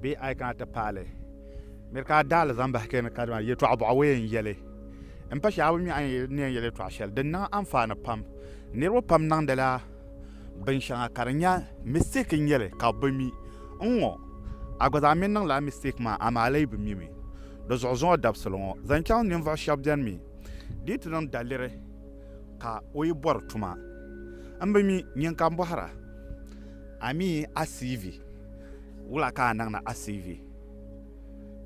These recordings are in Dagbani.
Bee a yi kana ti paali nir ka a daali zaŋ bahi kpɛri ni kadama yɛtɔɣ bɔɣu o yɛn yɛli n pa shɛba mi a ni yɛn yɛli yɛtɔɣ shɛli din niŋ anfaani pam niriba pam niŋdila binshɛŋa ka di nya mistake n-nyɛ li ka bɛ bi mi n ŋɔ a gba zaa mi niŋla mistake maa amaa a lee bi mi mi di zuɣu zuŋɔ dabisili ŋɔ zaŋ chaŋ ninvuɣ shɛba beni mi di yi ti niŋ daliri ka o yi bɔri tuma m bi mi nyin ka m bɔhira a mi a CV. Wula ka a niŋdi a CV?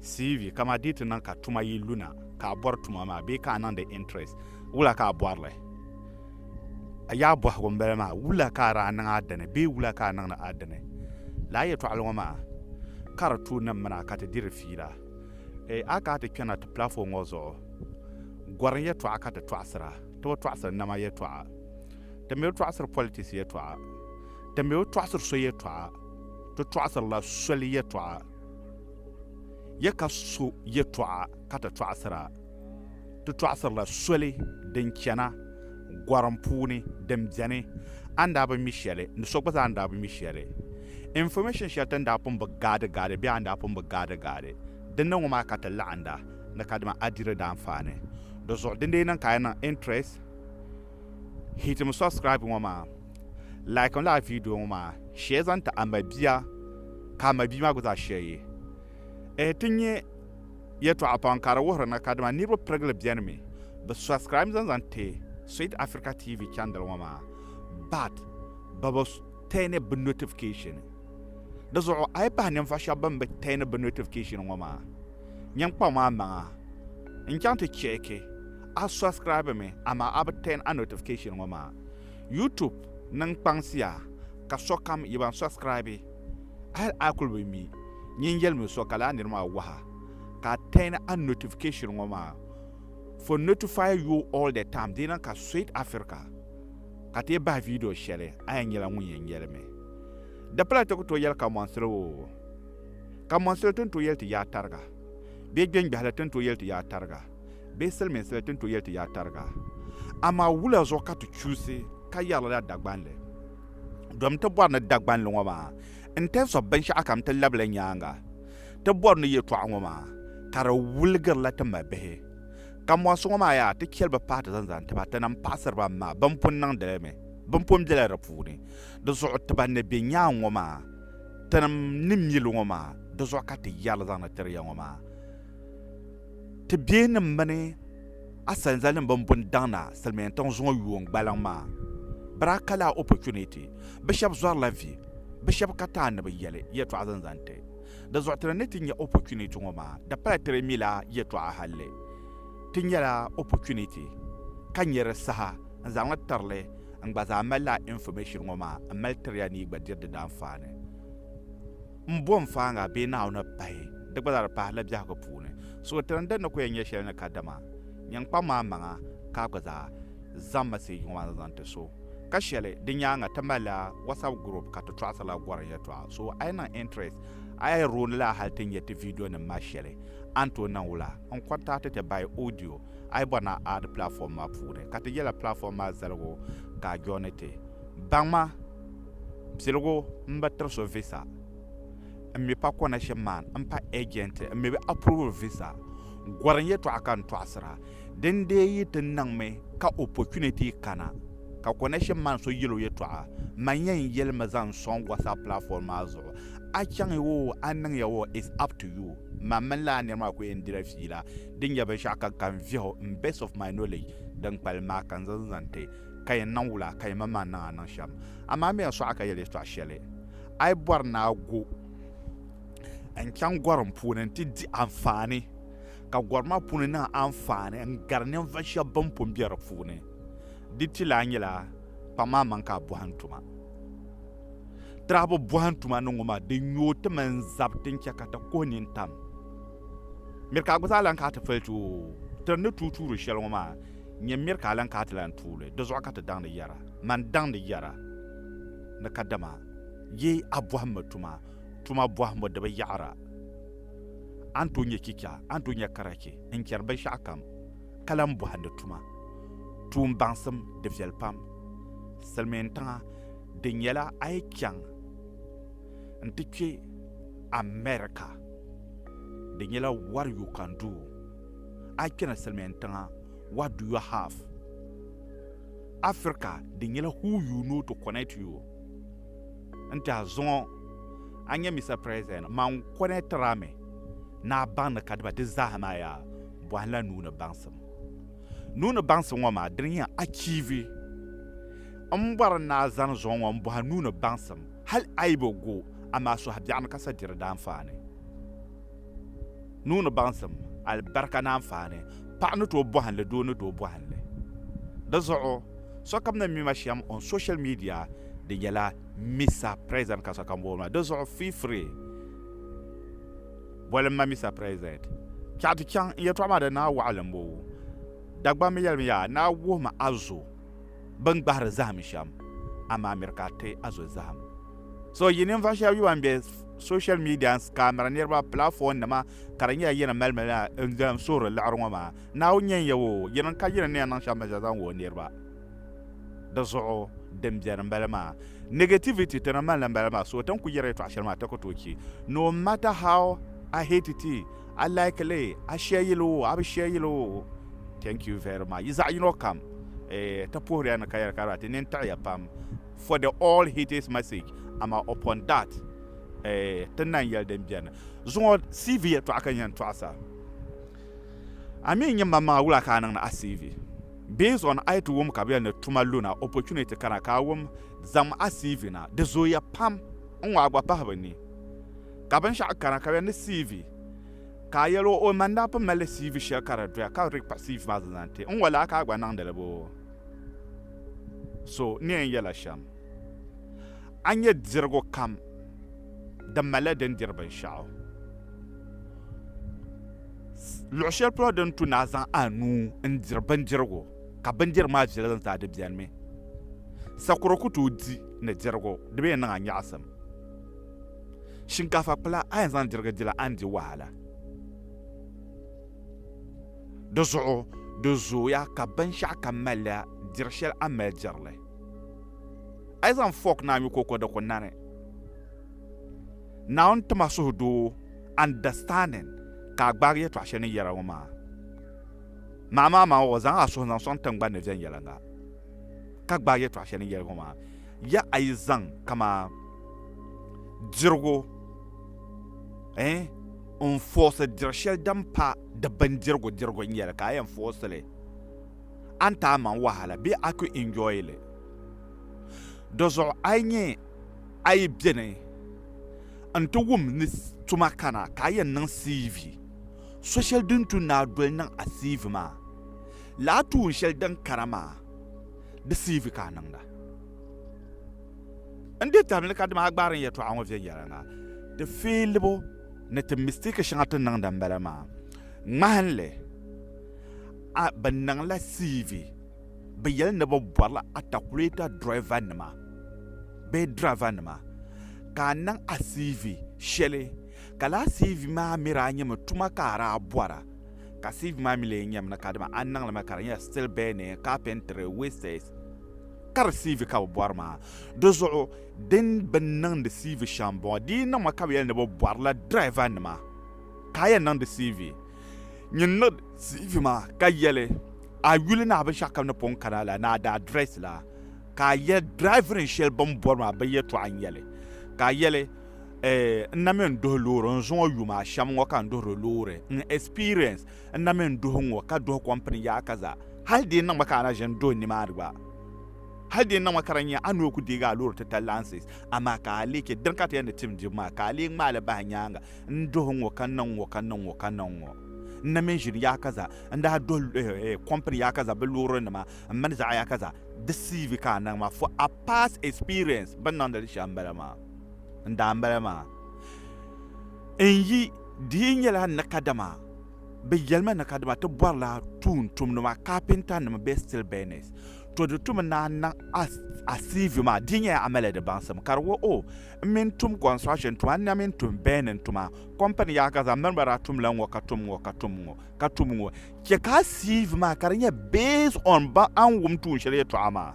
CV, Kaman di yi ti niŋ ka tuma yi lu na, ka a bɔri tuma maa bee ka a niŋdi interest, wula ka a bɔri li? A yaɣa bɔhigu m-bala maa, wula ka a daa niŋ a dini bee wula ka a niŋdi a dini? Lala yɛtɔɣili ŋɔ maa ka di tuui nim mina ka ti diri fiila. Ee, a kana ti kpe na ti platform ŋɔ zuɣu, gɔrim yɛtɔɣa ka ti tɔɣisira. Ti bi tɔɣisiri nama yɛtɔɣa. Ti mi bi tɔɣisiri politics yɛtɔɣa. Ti mi o tɔɣisiri so yɛtɔɣa, ti tɔɣisirila soli yɛtɔɣa. Ya ka so yɛtɔɣa ka ti tɔɣisir a, ti tɔɣisirila soli din chana gɔrim puuni din beni a ni daa bi mi shɛli ni so gba zaa ni daa bi mi shɛli. Information shɛli ti ni daa pun bi gaadigaadi bee a ni daa pun bi gaadigaadi din ni ŋɔ maa ka ti laɣinda ni kadama a diri daanfaani di zuɣu dindee niŋ ka a niŋ interest Hitim subscribe ŋɔ maa, like n lala video ŋɔ maa, share zaŋ ti a mabia ka a mabia maa gba zaa share yi. Ehe ti nyɛ yɛtɔɣa pam ka di wuhiri ni kadama niriba pirigili beni mi bi subscribe zaŋ zaŋ ti Sweet Africa TV channel ŋɔ maa but bɛ bi turni bɛ notification. Di zuɣu a yi pahi ninvuɣu shɛba bɛn bi turni bɛ notification ŋɔ maa nyin kpa maa maŋa n chaŋ ti check A subscribe mi amaa a bi turn a notification ŋɔ maa. YouTube niŋ kpaŋsiya ka sokam yi ban subscribe hali a kuli bi mi nyin yelimi so ka laa nir maa waha ka a turn a notification ŋɔ maa for notify you all the time di niŋ ka Sweet Africa ka ti yi bahi video sheli a yɛn nyela ŋun yɛn yelimi. Di pala ti ku tooi yeli Kamoansili o Kamoansili ti ni tooi yeli ti yaa tariga bee Gbengbehili ti ni tooi yeli ti yaa tariga. bee silimiinsi la ti ni tooi yɛli ti yaa tariga. Amaa wula zuɣu ka ti chuusi ka yɛri lala Dagbanli? Domi ti bɔri ni Dagbanli ŋɔ maa in terms of binshɛɣu kam ti labila nyaaŋa ti bɔri ni yɛltɔɣa ŋɔ maa ka di wuligirila ti mabihi. Kambɔnsi ŋɔ maa yaa ti chɛli bɛ pahi ti zaŋ zaŋ ti ba ti nam paɣisiri ba m-maa bɛn pun niŋdi li mi bɛn pun bela di puuni. Di zuɣu ti ban ni be nyaaŋa ŋɔ maa tinim ni mi li ŋɔ maa di zuɣu ka ti yɛri li zaŋ ni tiri ya ŋɔ maa. Ti biɛhinim mini a salizalinim bɛn bo n-daŋ na silimiintiŋ zuŋɔ yuun gbaliŋ maa, bɛ daa ka laa opportunity. Bɛ shɛb zɔrila vi, bɛ shɛb ka taan ni bɛ yɛli yɛtɔɣa zaŋ zaŋ ti. Di zuɣu ti ni ni ti nya opportunity ŋɔ maa, di pala ti di mila yɛtɔɣa halli ti nyɛla opportunity ka nya di saha n-zaŋ li tiri li n-gba zaa mali laa information ŋɔ maa m-mali tiri ya ni yi gba diri di daanfaani. m bo n faaŋa bee Naawuni pahi, di gba zaa di pahi la biɛhigu puuni. So tiri n din ni ku yɛn nyɛ shɛli ni kadama nyin kpaŋ ma maŋa ka a gba zaa zaŋ mɛsij ŋɔ maa zaŋ ti so. Ka shɛli di nyaaŋa ti malila WhatsApp group ka ti tɔɣisirila gɔrim yɛltɔɣa. So a yi niŋ interest a yi rooni la hali ti nya ti video nim maa shɛli a ni tooi niŋ wula n contact ti by audio a yi bɔri ni a add platform maa puuni ka ti yɛla platform maa zaligu ka a joini ti. Baŋ ma! Piligu n ba tiri so visa n mi pa connection man n pa agent n mi bi approve visa gɔri n yɛtɔɣa ka n tɔɣisira din dee yi ti niŋmi ka opportunity kana ka connection man so yɛl o yɛtɔɣa man yɛn yɛli mi zaŋ sɔŋ WhatsApp platform maa zuɣu a chaŋya o a niŋya o is up to you man mini lala niri maa ku yɛn dila fiila din nyɛ binshɛɣu ka n vihi o in base of my knowledge din kpalim maa ka n zaŋ zaŋ ti ka yɛn niŋ wula ka yɛn manmaŋ niŋ a niŋ shɛm? Amaa mi a suɣa ka yɛli yɛtɔɣ shɛli, A yi bɔri ni a gu n-chaŋ gɔrim puuni nti di anfaani, ka gɔri maa puuni niŋ anfaani n-gari ninvuɣ shɛb bɛn pun be di puuni, di ti lahi nyɛla kpaŋ maa maŋ ka a bɔhim tuma. Tirahibu bɔhim tuma ni ŋɔ maa, di nyooi ti mini zab ti ni chɛ ka ti kuhi nini tam. Miri ka a gba zaa lan kana ti fali ti o, tiri ni tuui tuuri shɛli ŋɔ maa, Nyɛ miri ka a lan ka a ti lan tuuli, di zuɣu ka ti daŋdi yɛra, Man daŋdi yɛra ni kadama yi a bɔhimbu tuma, tuma bɔhimbu di bi yaɣira. A ni tooi nyɛ chicha, a ni tooi nyɛ karachi n-chɛri binshɛɣukam ka lan bɔhindi tuma. Tuun baŋsim, di viɛli pam. Silimiintiŋa, di nyɛla a yi chaŋ n-ti kpe America, di nyɛla what you can do. a yi kpɛna Silimiin tiŋa, what do you have? Africa di nyɛla who you know to connect you. N ti a zuŋɔ, a nya Mister President, man connect-ir a mi ni a baŋdi kadiba di zaaha maa yaa bɔhim la nuu ni baŋsim. Nuu ni baŋsim ŋɔ maa dini n-yɛn achieve. M bɔri ni a zani zuŋɔ ŋɔ m-bɔhi a nuu ni baŋsim, hal a yi bi gu, amaa suhu biɛɣuni ka sa diri daanfaani. Nuu ni baŋsim, alibarika ni anfaani, paɣa ni tooi bɔhindi doo ni tooi bɔhindi. Di zuɣu, sokam ni mi ma shɛm on social media di nyɛla Mister President ka sokam booni ma. Di zuɣu feel free boli m ma Mister President. Chaɣ ti chaŋ n yɛltɔɣa maa di naai waɣilim boo? Dagbamb yɛli mi yaa, naa wuhi ma a zo. bɛ ni gbahiri zahim shɛm, amaa miri ka a ti a zo zahim. So yi ninvuɣ shɛb yi ban be social media n-scammiri niriba platformnima ka di nyɛla yi ni mali maliya n-zaŋ suhiri liɣiri ŋɔ maa, Naawuni nyɛ n-yab o, yi niŋ ka yi ni ni yɛn niŋ shɛm baŋshɛli zaŋ wuhi o niriba. Di zuɣu din beni m-bala maa. Negativity ti ni mali li m-bala maa, so ti ni kul yɛri yɛtɔɣ shɛli maa a ti ku tooi che, no matter how I hate it, a like li a share yili o a bi share yili o thank you very much yi zaɣ yino kam eh, ti puhiriya ni ka yɛli ka ti nini tiɣiya pam for the all his message ama upon that eh, ti nan yɛli din biɛni zuŋɔ cv yɛtɔɣa ka yɛn tɔɣisa a mi nyɛ maŋmaŋa wula ka a niŋdi a cv based on a ti wum ka bi yɛli ni tuma luna opportunity kana ka a wum zaŋm a cv na di zooya pam n ŋɔ a gba pahi bi ni Ka binshɛɣu kana ka di ni CV ka a yɛl o o man daa pun malila CV shɛli ka di doya ka di kpa CV maa zaŋ zaŋ ti n ŋɔ laa ka a gba niŋdi li boo? So ni yɛn yɛla shɛm a ni nyɛ dirigu kam di malila din diri binshɛɣu. Luɣ shɛli polo din tu ni a zaŋ a nuu n-diri bindirigu ka bindirigu maa viɛli zaŋ ti a di beni mi. Sakuro ku tooi di ni dirigu di bi yɛn niŋ a nyaɣisim. Shinkaafa kpula a yɛn zaŋ dirigi di la a ni di wahala. Di zuɣu di zooya ka binshɛɣu kam malila diri shɛli a ni mali diri li. A yi zaŋ fɔɔk naai nyu kooko di ku nani. Naawuni tima suhudoo, understanding, ka a gbaagi yɛtɔɣa shɛli ni yɛra ŋɔ maa. Maamaamaŋ o, zaŋ a suhu zaŋ sɔŋ tiŋgbani ni viɛnyɛliŋga, ka gbaagi yɛtɔɣa shɛli ni yɛli ŋɔ maa. Ya a yi zaŋ kamaa dirigu eh, n foosi diri shɛli din pa di bindirigu dirigu n-yɛli ka a yɛn foosi li, a ni ti a maŋ wahala bee a ku enjoy li. Di zuɣu a yi nyɛ a yi bɛ ni n-ti wum ni tuma kana ka a yɛn niŋ CV, so shɛli din tu ni a doli niŋ a CV maa, lala tuun shɛli din kana maa. deceive ka a niŋda n di tabili ka dima a gbaari n yɛtɔɣa ŋɔ viɛnyɛliŋga ti feelibu ni ti mistake shɛŋa ti niŋda n bala maa ŋmahinli a bi niŋla cv bi yɛli ni bi bɔrila atakulɛta driver nima bee driver nima ka a niŋ a cv shɛli ka laa cv maa miri a nyɛmi tuma ka a daa bɔra ka sieve maa mi lee nyɛm ni kadama a ni niŋli mi ka di nyɛla still burning carpentry wastes ka di sieve ka bi bɔri maa di zuɣu din bi niŋdi sieve shɛm n bɔŋɔ di niŋmi ka bi yɛli ni bi bɔrila driver nima ka a yɛn niŋdi sieve nyin niŋdi sieve maa ka yɛli a yuli ni a binshaɣu kam ni pun kana la ni a daa dress la ka a yɛli driving shɛli bin bɔri maa bi yɛtɔɣa n nyɛli ka a yɛli eh, n na mi n duhi loori n zuŋɔ yuma a shɛm ŋɔ ka n duhiri loori n experience n na mi n duhi ŋɔ ka duhi kɔmpini yaɣa ka za hali di niŋmi ka a na ʒe n duhi nimaani gba hali di niŋmi ka di nya a nuu ku deegi a loori titali lansis amaa ka a lee che dini ka ti yɛn di tim dibu maa ka a lee ŋmaali bahi nyaaŋa n duhi ŋɔ ka niŋ ŋɔ ka niŋ ŋɔ ka niŋ ŋɔ n na mi n ʒini yaɣa ka za n daa duhi eh, eh, kɔmpini yaɣa ka za bɛ loorinima m mini zaɣa yaɣa ka za di CV ka a niŋ maa for a past experience bɛ ni niŋdi li shɛm m-bala maa. n daa m-bala maa. N yi di yi nyɛla ni kadama bɛ yɛli ma ni kadama ti bɔrila tuuntumduma, carpentanima bee steel burners. To di tumi naan niŋ a CV maa di yi nyɛla a mali di baŋsim ka di wuhi o m mi ni tum construction tuma n na mi ni tum burning tuma company yaha ka zaŋ miri ba daa tumla ŋ-ŋɔ ka tum ŋ-ŋɔ ka tum ŋ-ŋɔ ka tum ŋ-ŋɔ. Chɛ ka a CV maa ka di nyɛ based on ba a ni wum tuun shɛli yɛtɔɣa maa.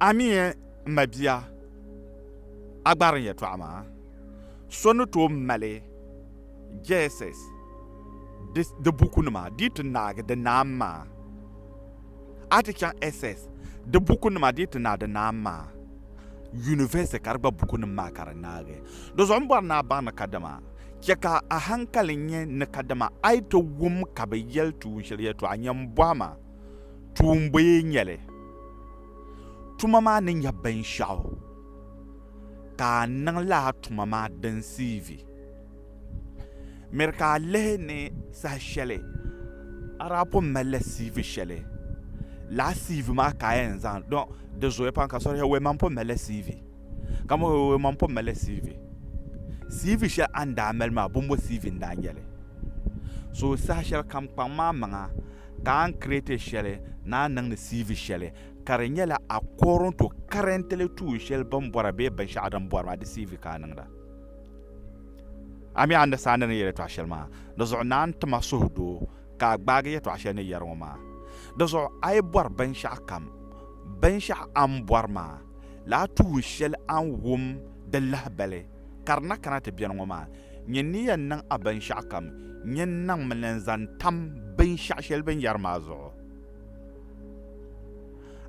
Amie m ma bia a gbarin yɛtɔɣa maa so ni tooi mali Geesis di bukunima dii ti naagi di naam maa. A ti chaŋ SS di bukunima dii ti naai di naam maa, University ka di gba bukunim maa ka di naagi. Di zuɣu m bɔri ni a baŋ ni kadama chɛ ka a haŋkali nyɛ ni kadama a yi ti wum ka bɛ yɛli tuun shɛli yɛtɔɣa nyɛ m bɔhi ma. tuumboye nyɛli. Tuma maa ni nyɛ binshɛɣu ka a niŋla a tuma maa din siivi. Miri ka a lihi ni saha shɛli a daa pun malila siivi shɛli, lala siivi maa ka a yɛn zaŋ, don di zooya pam ka so daa yɛli, Wee, man pun malila siivi. Ka mo o maŋ po mali CV. CV shɛli a ni daa mali maa bombo CV n daa nyɛli. So saha shɛli kam kpaŋ maa maŋa ka a ni create shɛli ni a niŋdi CV shɛli ka di nyɛla according to currently tuun shɛli bini bɔra bee binshɛɣu din bɔri maa di CV ka a niŋda. A mi a understand ni yɛli yɛtɔɣa shɛli maa di zuɣu naan ti ma suhudoo ka a gbaagi yɛtɔɣa shɛli ni yɛri ŋɔ maa di zuɣu a yi bɔri binshɛɣu kam binshɛɣu a ni bɔri maa Lahi tuhi shɛli a ni wum di lahibali, ka di na kana ti beni ŋɔ maa. Nyini ni yɛn niŋ a binshɛɣukam, nyini niŋmi ni n-zaŋ tam binshɛɣu shɛli bɛ ni yɛri maa zuɣu.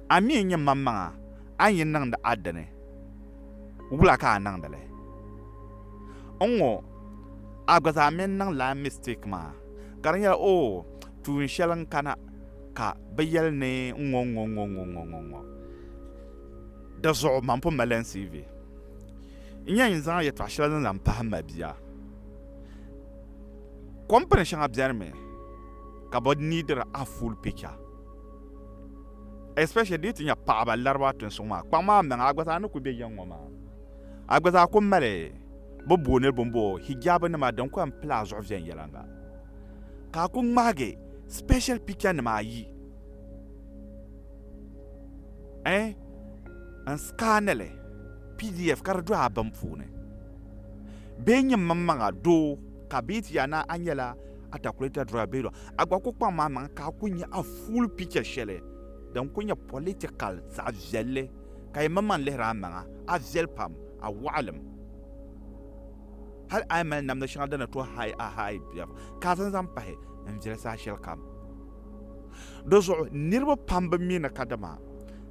A mi n-nyɛ maŋmaŋa, a ni yi niŋdi a dini, wula ka a niŋdi li? N ŋɔ, a gba zaa mi n-niŋ lala mistake maa, ka di nyɛla, oh, tuun shɛli n-kana ka bɛ yɛli ni ŋ-ŋɔ ŋ-ŋɔ ŋ-ŋɔ ŋ-ŋɔ ŋ-ŋɔ ŋ-ŋɔ. Di zuɣu man pun mali NCV. N yɛn yi zaŋ yɛtɔɣ shɛli ni lan pahi mabia. Kɔmpini shɛŋa bɛnimi ka bɛ niidiri a full picture especially di yi ti nya paɣaba lariba tin suŋ maa kpaŋ maa maŋa a gba zaa ni kuli be ya ŋɔ maa a gba zaa kuli mali bɛ booni bini bɔɔ hijab nima din kuli yɛn pili a zuɣu viɛnyɛliŋga ka a kuli ŋmahigi special picture nima ayi Eh, n scan li pdf ka di do a bin puuni. Bee nyini mini maŋa doo ka bee ti yaa na a nyɛla a calculator driver bee doo a gba ku kpaŋ ma maŋa ka a ku nya a full picture shɛli din ku nyɛ political zaɣ viɛlli ka yi mini man lihiri a maŋa a viɛli pam a waɣilim hal a yi mali namda shɛŋa din ni tooi haai a haai biɛɣu ka a zaŋ zaŋ pahi n viɛli saha shɛlikam. Di zuɣu niriba pam bi mi ni ka dama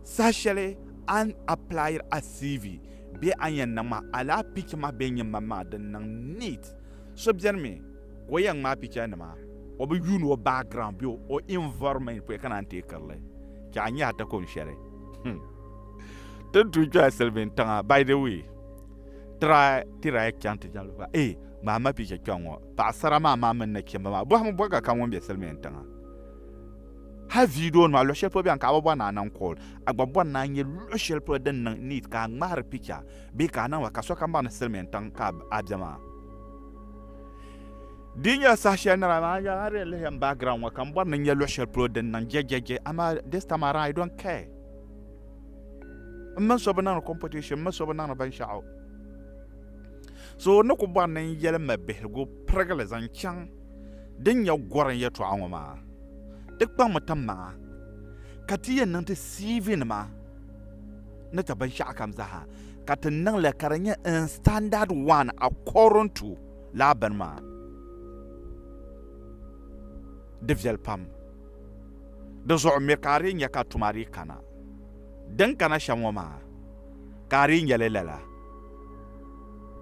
saha shɛli a ni aplayiri a CV bee a ni yɛn niŋ ma alaha picha maa bee nyin man maa din niŋ neat. So beni mi ka o yɛn ŋmaai picha nima o bi yuuni o background bee o environment puya ka naan teei kirili che a nyahi takon shɛli. Ti ni tuui kpɛla silimiintiŋa by the way. Try ti daa chaŋ ti jɛmli ba ee ŋmahi ma picha kpɛŋ ŋɔ paɣasara maa maa mini nachimba maa bɔhim bɔbiga kam ŋun be silimiin tiŋa hali video nima luɣi shɛli polo bɛni ka a bi bɔri ni a niŋ call a gba bɔri ni a nya luɣi shɛli polo din niŋ neat ka a ŋmahiri picha bee ka a niŋba ka sokam baŋ ni silimiin tiŋ ka a be maa di nyɛla saha shɛli nira maa nya a di yɛn lihiyam background ŋɔ ka m bɔri ni nya luɣi shɛli polo din niŋ jɛjɛjɛ amaa this time around I don't care m mini so bi niŋdi competition m mini so bi niŋdi binshɛɣu so ni ku bɔri ni n yɛli ma bihigu pirigili zaŋ chaŋ din nyɛ gɔrim yɛtɔɣa ŋɔ maa ti kpaŋmi ti maŋa ka ti yɛn niŋ ti CV nima ni ti binshɛɣu kam zaaha ka ti niŋli ka di nyɛ in standard one according to laa bini maa di viɛli pam Di zuɣu mi ka a dii nya ka tuma dii kana. Din kana shɛm ŋɔ maa, ka a dii nya li lala,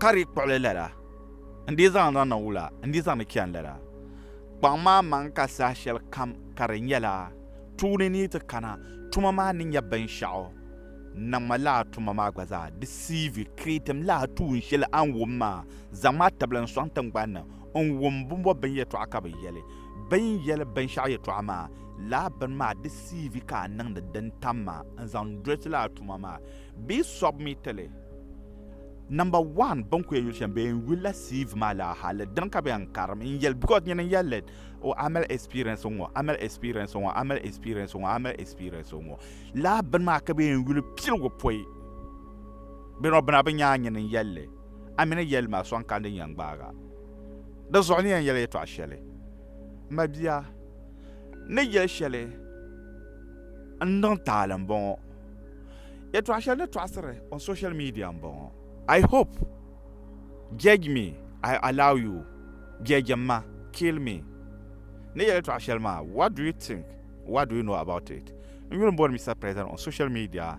ka dii kpuɣi li lala, n dii zaŋ li niŋ wula, n dii zaŋ li chani lala. Kpaŋ ma maŋ ka saha shɛli kam ka di nyɛla tuuni ni yi ti kana, tuma maa ni nya binshɛɣu, niŋ ma lala tuma maa gba zaa, deceive, createm lala tuun shɛli a ni wum maa, zaŋ ma a tibili n sɔŋ tiŋgbani ni, n wum bimbɔbibinyɛtɔɣa ka bɛ yɛli, Bɛ ni yɛli binshɛɣu yɛtɔɣa maa, lala bini maa di siivi ka a niŋdi din tam maa n-zaŋ doli ti lala tuma maa bee sɔbu mi ti li. Namba one bɛ ni ku yɛn yuli shɛm bee n-yulila siivi maa lala hali dini ka bɛ yɛn karim n-yɛli because nyini n-yɛli li o amali experience ŋ-ŋɔ, amali experience ŋ-ŋɔ, amali experience ŋ-ŋɔ, amali experience ŋ-ŋɔ. Lala bini maa ka bɛ yɛn yuli piligu pɔi bɛ nɔbina bɛ nyaa nyini n-yɛli li, a mi ni yɛli ma sɔŋ ka n di nyɛ n-gbaaga. Di zuɣu n ni yɛn yɛli yɛtɔɣ shɛli, M mabia, n ni yɛli shɛli n niŋ taali m-bɔŋɔ. Yɛtɔɣ shɛli ni tɔɣisiri on social media m-bɔŋɔ. I hope, judge me, I allow you, judge m ma, kill me. N ni yɛli yɛtɔɣ shɛli maa, what do you think, what do you know about it? N yuli m-bɔri Mister President on social media.